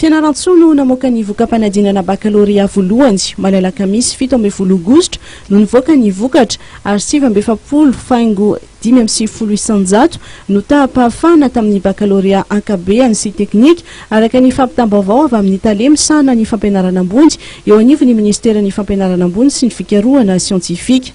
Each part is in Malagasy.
Fianarantsoa no namoaka ny voka-panadinana bakalorea voalohany. Omaly alakamisy fito ambin'ny folo aogositra no nivoaka ny vokatra ary sivy amby efapolo faingo dimy amby sivifolo isanjato no taham-pahafahana tamin'ny bakalorea ankabehany sy teknika, araka ny fampitam-baovao avy amin'ny tale misahana ny fampianarana ambony eo anivon'ny minisiteran'ny Fampianarana ambony sy ny fikarohana siantifika.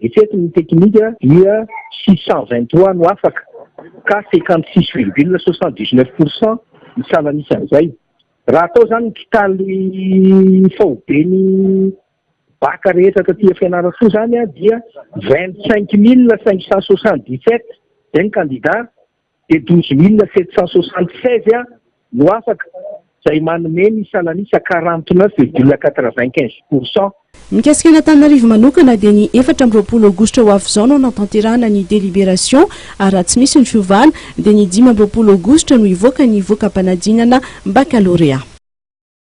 Eto ny teknika dia six cent vingt trois no afaka ka cinquante six virgule soixante dix neuf pour cent ny salan'isan'izay. Raha atao izany ny totaly faoben'ny bacc rehetra taty Fianarantsoa izany dia vingt cinq mille cinq cent soixante dix sept izay ny kandida. dia douze mille sept cent soixante seize Ar no afaka, izay manome ny sanan'isa quarante neuf virgule quatre vingt quinze pour cent. Mikasika an'Antananarivo manokana dia ny efatra amby roapolo aogositra ho avy izao no hanatanterahana ny délibération ary raha tsy misy ny fiovana dia ny dimy amby roapolo aogositra no hivoaka ny voka-panadinana baccalauréat.